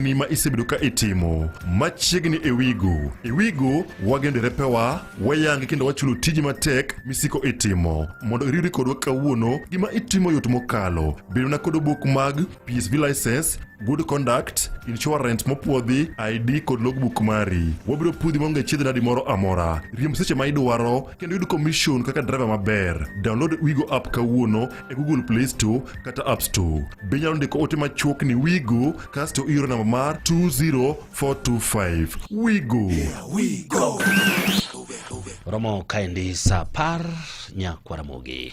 ni ma isebedo ka itimo machiegni e wigo e wigo wagendo e repewa wayange kendo wachulo tiji matek misiko itimo mondo iriwri kodwa kawuono gima itimo yot mokalo bedona kod obok mag psv license good conduct insurance mopwodhi id kod logbook mari wabiro pudhi maonge chiedh nadi moro amora riemb seche ma idwaro kendo yud commission kaka driver maber download wigo app kawuono e Google Play Store kata App Store. Be inyalo ndiko ote machuok ni Wigo kasto ioro namba mar 20425. Wigo. romo kaendi sa par nyakwaramogi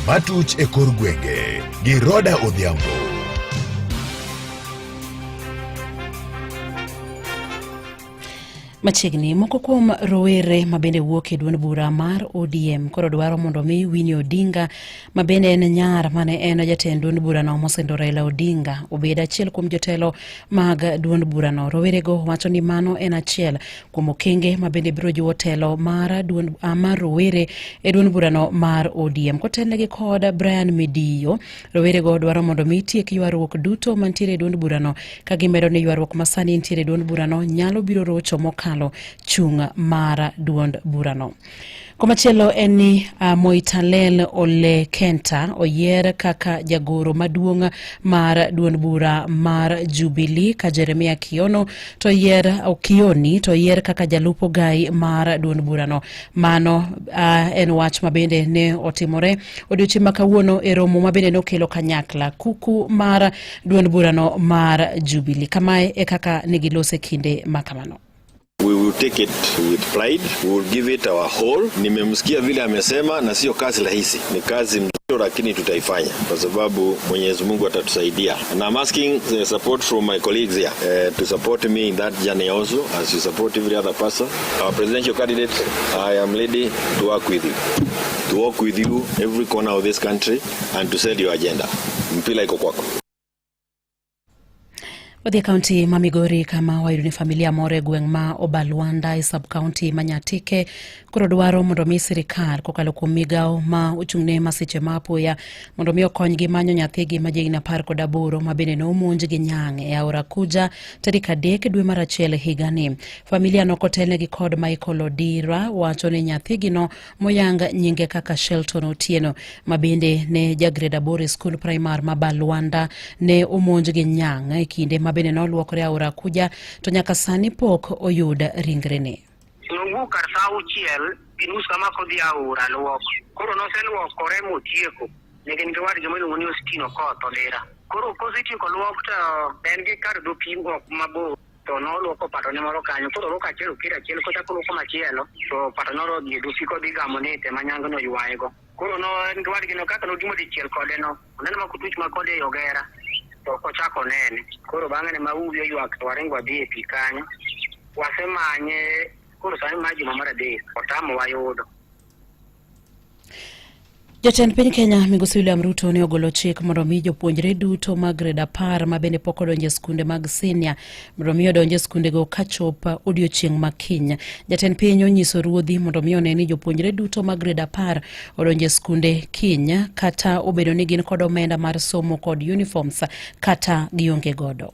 matuch e kor gwenge gi Roda Odhiambo. Machiegni moko kuom rowere mabende wuok e duond bura mar ODM koro dwaro mondo mi Winnie Odinga mabende en nyar mane en jatend duond burano mosendo Raila Odinga obed achiel kuom jotelo mag duond burano. Rowerego wacho ni mano en achiel kuom okenge mabende biro jiwo telo mar duond ah, mar rowere e duond burano mar ODM kotelnegi kod Brian Midiyo Rowerego dwaro mondo mi tiek ywaruok duto mantiere e duond burano ka gimedo ni ywaruok masani ntiere e duond burano nyalo biro rocho mokalo chung' mar duond burano. Komachielo en ni uh, Moitalel Ole Kenta oyier kaka jagoro maduong' mar duond bura mar Jubilee ka Jeremia Kiono to yier Kioni to yier kaka jalup ogai mar duond burano. Mano uh, en wach ma bende ne otimore odiochieng' ma kawuono e romo ma bende nokelo kanyakla kuku mar duond burano mar Jubilee. Kamae e kaka ne gilose kinde ma kamano. We will take it with pride. We will give it our whole. Nimemsikia vile amesema, na sio kazi rahisi, ni kazi mzito, lakini tutaifanya kwa sababu Mwenyezi Mungu atatusaidia. And I'm asking the support from my colleagues here uh, to support me in that journey also as you support every other person. Our presidential candidate, I am ready to work with you. To work with you every corner of this country and to set your agenda. Mpila iko kwako. Wadhi kaunti ma Migori kama wayudo ni familia moro e gweng' ma Obalwanda e sub kaunti ma Nyatike koro dwaro mondo mi sirikal kokalo kuom migawo ma ochung'ne masiche ma apoya mondo mi okonygi manyo nyathigi ma jahigni apar kod aboro ma bende ne omonj gi nyang' e aora Kuja tarik adek dwe mar achiel higani. Familia nokotelnegi kod Michael Odira wacho ni nyathigino moyang nyinge kaka Shelton Otieno ma bende ne jagrade aboro e skul primar ma Balwanda ne omonj gi nyang' e kinde ma bende noluokore aora Kuja to nyaka sani pok oyud ringrene. Nowuok kar saa auchiel gi nus kama kodhi aora luok. Koro noseluokore motieko ne gin gi wadgi miluongo ni Ostino Koth Odira. Koro kosetieko luok to en gi kar dho pim ok mabor. to noluoko patone moro kanyo koro oluoko achiel okir achiel kochako oluoko machielo to pato noro dhi dusi kodhi gamo ni te manyango no yuwayego koro no en gi wadgi no kaka notimo dichiel kode no oneno ma kutuch ma kode e ogera to ok ochako nene koro bang'e ne mauwi oywak to waringo wadhi e pi kanyo wasemanye koro sani ma juma mar adek otamo wayudo Jatend piny Kenya Migosi William Ruto ne ogolo chik mondo mi jopuonjre duto mag gred apar ma bende pok odonje skunde mag senior mondo mi odonje skundego ka chop odiochieng' ma kiny. Jatend piny onyiso ruodhi mondo mi one ni jopuonjre duto mag gred apar odonje skunde kiny kata obedo ni gin kod omenda mar somo kod uniforms kata gionge godo.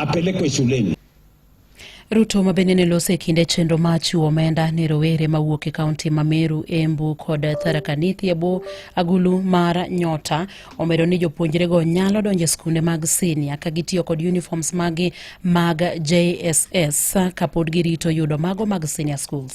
apelekwe shuleni. Ruto ma bende ne lose kinde chenro ma chiwo omenda ne rowere mawuok e kaunti ma Meru, Embu kod Tharaka Nithi e bwo agulu mar Nyota omedo ni jopuonjrego nyalo donjo e skunde mag sinia ka gitiyo kod uniforms magi mag JSS kapod girito yudo mago mag senior schools.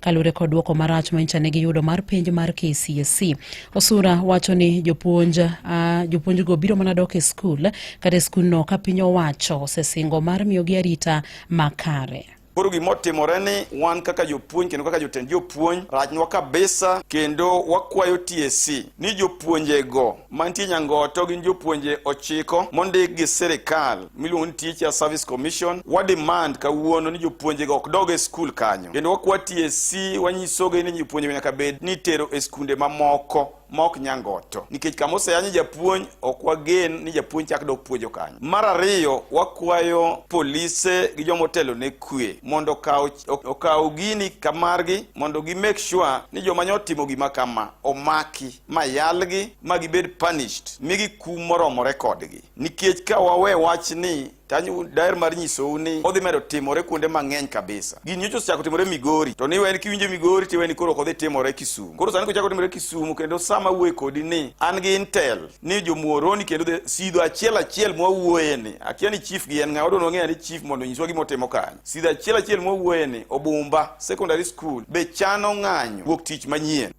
Kalure kod duoko marach ma nyicha ne giyudo mar penj mar KCSE. Osura wacho ni jopuonj uh, jopuonjgo biro mana dok e skul kata e skundno ka piny owacho osesingo mar miyogi arita makare. Koro gima otimore ni wan kaka jopuonj kendo kaka jotend jopuonj rachnwa kabisa, kendo wakwayo TSC ni jopuonjego mantie Nyangoto gin jopuonje ochiko mondik gi sirikal miluongo ni Teacher Service Commission. Wa demand kawuono ni jopuonje go ok dog e skul kanyo, kendo wakwa TSC wanyisogi ni jopuonje nyaka bed ni itero e skunde mamoko maok Nyangoto, nikech kama oseyanye japuonj ok wagen ni japuonj chak dok puonjo kanyo. Mar ariyo, wakwayo polise gi joma otelo ne kwe mondo okaw okaw gini kamargi mondo gi make sure ni joma nyotimo gima kama omaki. ma yalgi ma gibed punished migi kum moromore kodgi nikech ka wawe wach ni tanyu daer mar nyisou ni odhi medo timore kuonde mang'eny kabisa gini nyocha osechako timore migori to niwe en kiwinjo migori tiwe ni koro ok odhi timore kisumu koro sani kochako timore kisumu kendo sama wuoye kodi ni an gi intel ni jomuoroni kendo dhi sidho achiel achiel mwawuoye ni akia ni chief gi en ng'a wadwa nwang'eya ni chief mondo nyiswa gima otimo kanyo sidho achiel achiel mwawuoye ni obumba secondary school be chano ng'anyo wuok tich manyien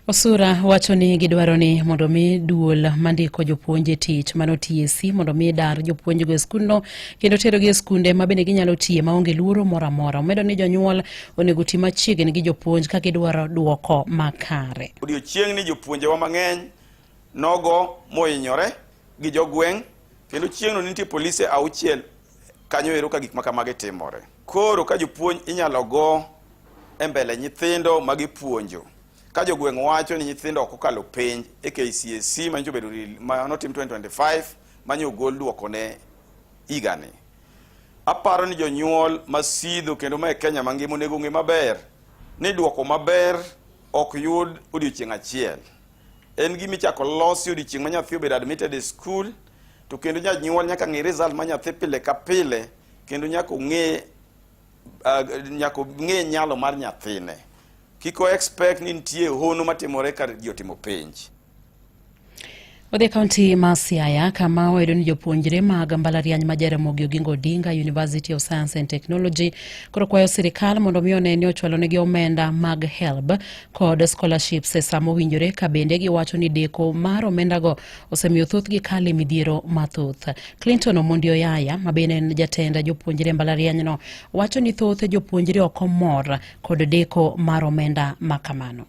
Osura wacho ni gidwaro ni mondo mi duol mandiko jopuonj e tich mano TSC mondo mi dar jopuonjgo e skundno kendo terogi e skunde ma bende ginyalo tiye maonge luoro moro amora. Omedo ni jonyuol onego ti machiegni gi jopuonj ka gidwaro duoko makare. Odiochieng'ni jopuonjewa mang'eny nogo mohinyore gi jogweng' kendo chieng'no nitie polise auchiel kanyo ero ka gik makamagi timore. Koro ka jopuonj inyalo go e mbele nyithindo ma gipuonjo ka jogweng' wacho ni nyithindo ok okalo penj e KCSE ma nyocha obedo rel- ma notim 2025 ma nyo ogol dwokone higani. Aparo ni jonyuol ma sidho kendo ma e Kenya mangima onego ong'e maber ni dwoko maber ok yud odiechieng' achiel. En gima ichako losi odiechieng' ma nyathi obedo admitted e skul to kendo janyuol nyaka ng'e result ma nyathi pile ka pile kendo nyaka ong'e uh, nyaka ong'e nyalo mar nyathine kik o expect ni nitie hono matimore ka ji otimo penj Odhi e kaunti ma Siaya kama wayudo ni jopuonjre mag mbalariany ma Jaramogi Oginga Odinga University of Science and Technology koro kwayo sirikal mondo mi one ni ochwalonegi omenda mag HELB kod scholarships e sama owinjore ka bende giwacho ni deko mar omendago osemiyo thothgi kalo e midhiero mathoth. Clinton Omondi Oyaya ma bende en jatend jopuonjre e mbalarianyno wacho ni thoth jopuonjre ok omor kod deko mar omenda ma kamano.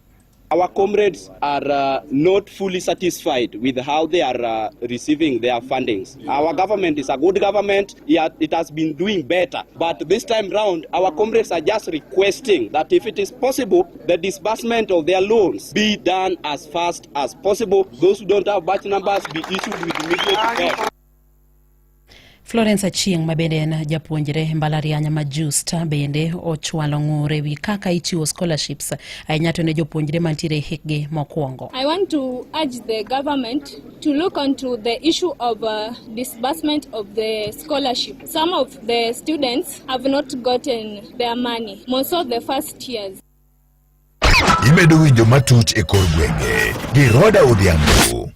Our comrades are uh, not fully satisfied with how they are uh, receiving their fundings. Our government is a good government. It has been doing better. But this time round, our comrades are just requesting that if it is possible, the disbursement of their loans be done as fast as possible. Those who don't have batch numbers be issued with immediate effect. Florence Achieng' ma bende en japuonjre mbalariany ma Justa bende ochwalo ng'ure wi kaka ichiwo scholarships ahinya to ne jopuonjre mantiere hikgi mokwongo. I want to urge the government to look onto the issue of uh, disbursement of the scholarship. Some of the students I've not gotten their money. Most of the first years. Imedo winjo matut e kor gwenge gi Roda Odhiambo.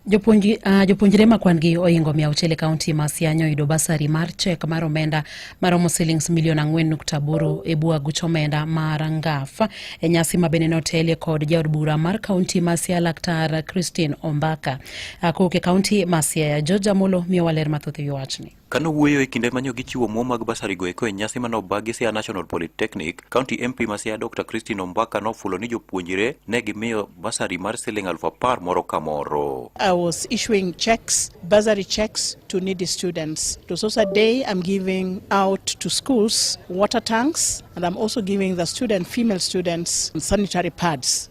Jopuonjre uh, jopuonjre ma kwan-gi ohingo mia auchiel e kaunti ma Sianya oyudo basari mar chek mar omenda maromo silings milion ang'wen nukta aboro e bwo aguch omenda mar ngaf e nyasi ma bende notelie kod jaod bura mar kaunti ma Siaya Laktar Christine Ombaka. Uh, kowuok e kaunti ma Siaya, George Amolo miyowa ler mathoth e wi wachni. Ka nowuoyo e kinde manyo gichiwo omuom mag basarigo eko e nyasi mane obag gi Siaya National Polytechnic, County MP ma Siaya Dr. Christine Ombaka nofulo ni jopuonjre ne gimiyo basari mar siling aluf apar moro ka moro. I was issuing checks, bursary checks to needy students. It was also a day I'm giving out to schools water tanks and I'm also giving the student, female students sanitary pads.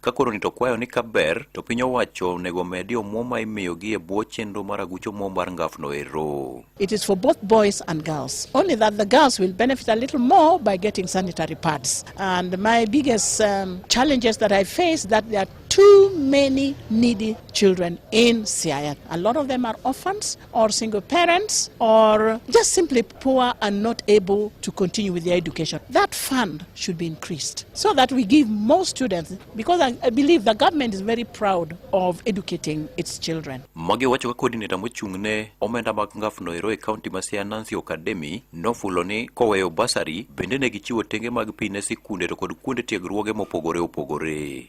Ka koro ni to kwayo ni kaber to piny owacho onego omedi omuom ma imiyogi e bwo chenro mar aguch omuom mar ngafno ero. It is for both boys and girls. Only that the girls will benefit a little more by getting sanitary pads. And my biggest um, challenges that I face that there are too many needy children in Siaya. A lot of them are orphans or single parents or just simply poor and not able to continue with their education. That fund should be increased so that we give more students because I, I believe the government is very proud of educating its children. Magi wacho ka coordinator mochung' ne omenda mag ngaf noero e county ma Siaya Nancy Okademi nofulo ni koweyo basari bende ne gichiwo tenge mag pi ne sikunde to kod kuonde tiegruoge mopogore opogore.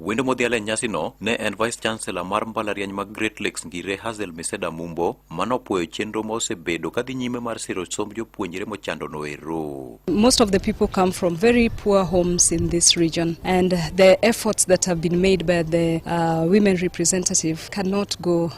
Wendo modhial e nyasino ne en Vice Chancellor mar mbalariany mag Great Lakes Ngire Hazel Miseda Mumbo mano puoyo chenro ma osebedo kadhi nyime mar siro somb jopuonjre mochando noero. Most of the people come from very poor homes in this region and the efforts that have been made by the uh, women representative cannot go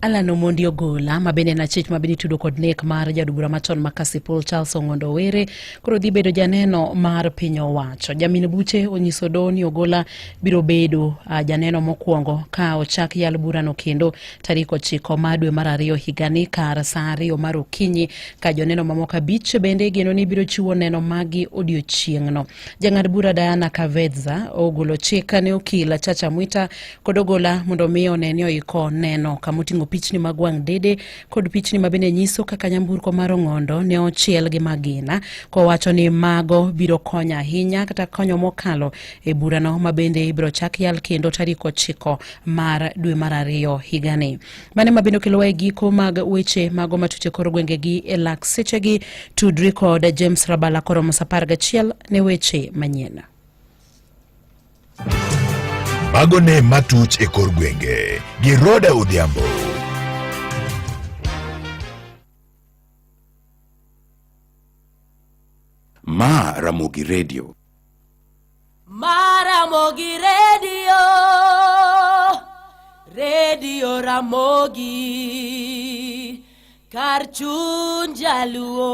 Alan Omondi Ogola ma bende en achich ma bende itudo kod nek mar jaod bura machon ma Kasipul Charles Ong'ondo Owere koro dhi bedo janeno mar piny owacho. Jamin buche onyiso doho ni Ogola biro bedo uh, janeno mokwongo ka ochak yal burano kendo tarik ochiko ma dwe mar ariyo higani kar saa ariyo mar okinyi ka joneno mamoko abich bende igeno ni biro chiwo neno magi odiochieng'no. Jang'ad bura Diana Kavedza ogolo chik ne okil Chacha Mwita kod ogola mondo omi one ni oiko neno kama oting'o pichni mag wang' dede kod pichni ma bende nyiso kaka nyamburko mar ong'ondo ne ochiel gi magina kowacho ni mago biro konyo ahinya kata konyo mokalo e burano ma bende ibiro chak yal kendo tarik ochiko mar dwe mar ariyo higani mane ma bende okelowa e giko mag weche mago matute koro gwengegi e lak sechegi tudri kod james rabala koro mos apar gachiel ne weche manyien Mago ne matuch e kor gwenge gi Roda Odhiambo. Ma Ramogi Radio. Ma Ramogi Radio. Radio Ramogi. Kar chuny jaluo.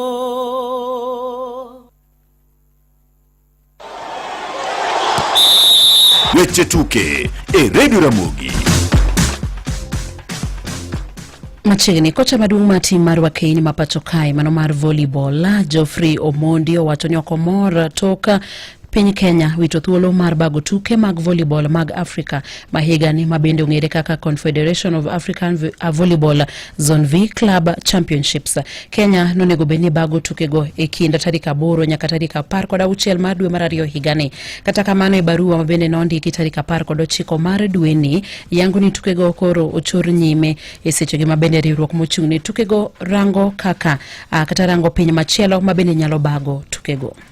Weche tuke e redio Ramogi. Machiegni kocha maduong' mar tim mar wakeny ma pacho kae mano mar volleyball Geoffrey Omondi owacho ni ok omor tok Piny Kenya wito thuolo mar bago tuke mag volleyball mag Afrika ma higani ma bende ong'ere kaka Confederation of African uh, Volleyball Zone V Club Championships. Kenya nonego bed ni bago tukego e kind tarik aboro nyaka tarik apar kod auchiel mar dwe mar ariyo higani. Kata kamano e barua ma bende nondiki tarik apar kod ochiko mar dweni yango ni tukego koro ochor nyime e sechegi ma bende riwruok mochung' ne tukego rango kaka kata rango piny machielo ma bende nyalo bago tukego.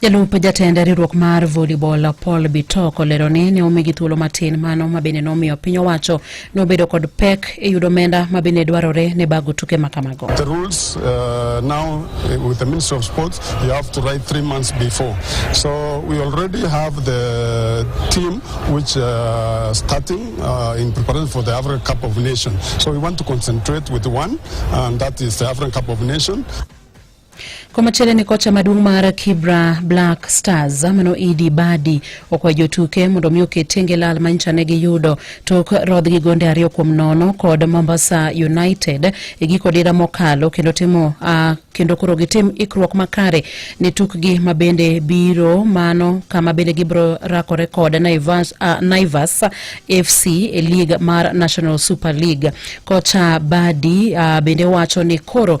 Jalup jatend riwruok mar volleyball Paul Bitok olero ni ne omigi thuolo matin mano ma bende nomiyo piny owacho nobedo kod pek e yudo omenda ma bende dwarore ne bago tuke ma kamago. The rules uh, now uh, with the Ministry of Sports you have to write three months before. So we already have the team which uh, starting uh, in preparation for the African Cup of Nations. So we want to concentrate with one and that is the African Cup of Nations. Komachielo ni kocha maduong' mar Kibra Black Stars mano Idi Badi okwayo jotuke mondo mi oket tenge lal ma nyicha ne giyudo tok rodh gi gonde ariyo kuom nono kod Mombasa United e giko dira mokalo kendo timo uh, kendo koro gitim ikruok makare ne tukgi ma bende biro mano kama bende gibiro rakore kod Naivas, uh, Naivas FC e lig mar National Super League. Kocha Badi uh, bende wacho ni koro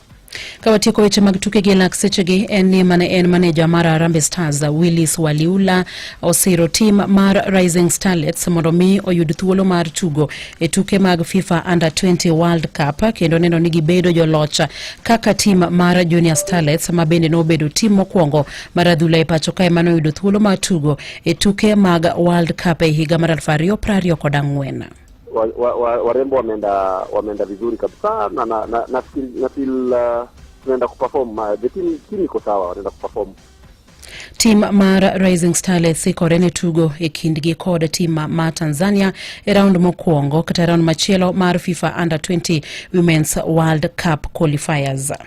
Ka watieko weche mag tuke gi lak sechegi en ni mane en maneja mar Harambee Stars Willis Waliula osiro tim mar Rising Starlets mondo mi oyud thuolo mar tugo e tuke mag FIFA Under 20 World Cup kendo neno ni gibedo joloch kaka tim mar Junior Starlets ma bende nobedo tim mokwongo mar adhula e pacho kae mane oyudo thuolo mar tugo e tuke mag World Cup e higa mar 2024. warembo wa, wa, warembo wameenda wameenda vizuri kabisa na na, na, na, feel, na feel uh, tunaenda kuperform uh, the team, team iko sawa wanaenda kuperform tim mar rising starlets ikore ne tugo e kindgi kod tim ma tanzania e raund mokwongo kata raund machielo mar fifa under 20 women's world cup qualifiers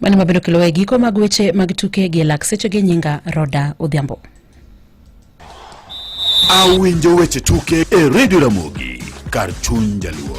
Mani mabedo kelo e giko mag weche mag tuke gi lak seche gi nyinga Roda Odhiambo. Awinjo weche tuke e Radio Ramogi kar chuny jaluo.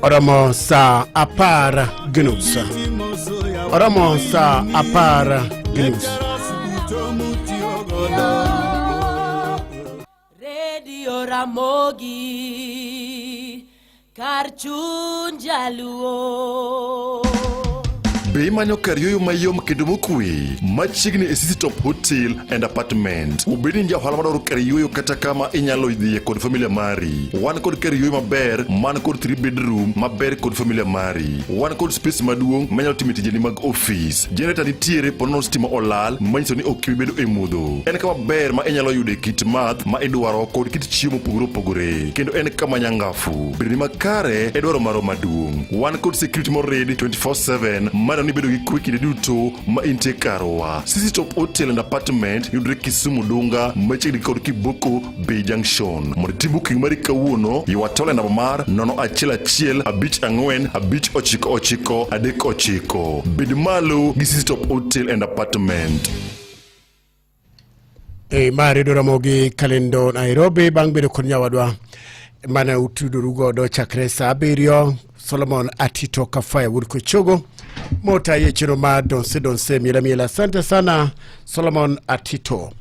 oromo saa apar gi nus oromo saa apar gi nus redio ramogi kar chuny jaluo Be imanyo kar yueyo mayom kendo mokuwe machiegni e City Top Hotel and Apartment? Obed ni ja ohala madwaro kar yueyo kata kama inyalo dhiye kod familia mari. Wan kod kar yueyo maber man kod three bedroom maber kod familia mari. Wan kod space maduong' manyalo time tijeni mag ofis. Generator nitiere ponono stima olal manyiso ni ok ibi bedo e mudho. En kama ber ma inyalo yude kit math ma idwaro kod kit chiemo mopogore opogore. Kendo en kama nyangafu. Bedoni makare e dwaro maro maduong'. Wan kod security morid 24/7 mano ni bedo gi kwe kinde duto ma intie karwa. Sisi Top Hotel and Apartment yudre Kisumu Dunga machiegni kod Kiboko B Junction. Mondo itim booking mari kawuono, ywa tole namba mar 01155959939. Bed malo gi City Top Hotel and Apartment. E ma redo ramogi kalendo Nairobi bang' bedo kod nyawadwa mane utudoru godo chakre sa abiriyo Solomon Atito Kafaya wuod Kochogo mota ye chiro ma donse donse miela miela. Asante sana Solomon Atito.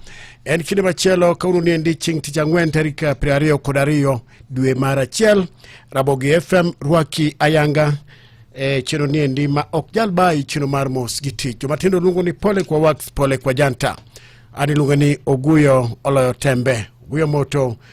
En kinde machielo kawuono ni endi chieng' tich ang'wen tarik piero ariyo kod ariyo dwe mar achiel Rabogi FM rwaki ayanga e chenro ni endi ma ok jal bayi chenro mar mos gi tich jomatindo luongo ni pole kwa wax pole kwa janta an iluonga ni oguyo oloyo tembe oguyo moto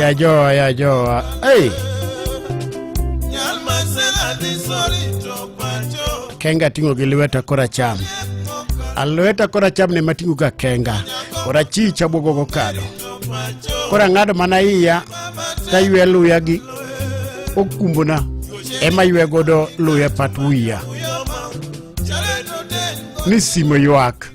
ya joa ya joa hey. kenga ting'o gi lweta koracham alweta koracham ne mating'o ga kenga korachich abwogo gokado korang'ado mana iya taywe luya gi okumbona ema ywe godo luya pat wiya ni simo ywak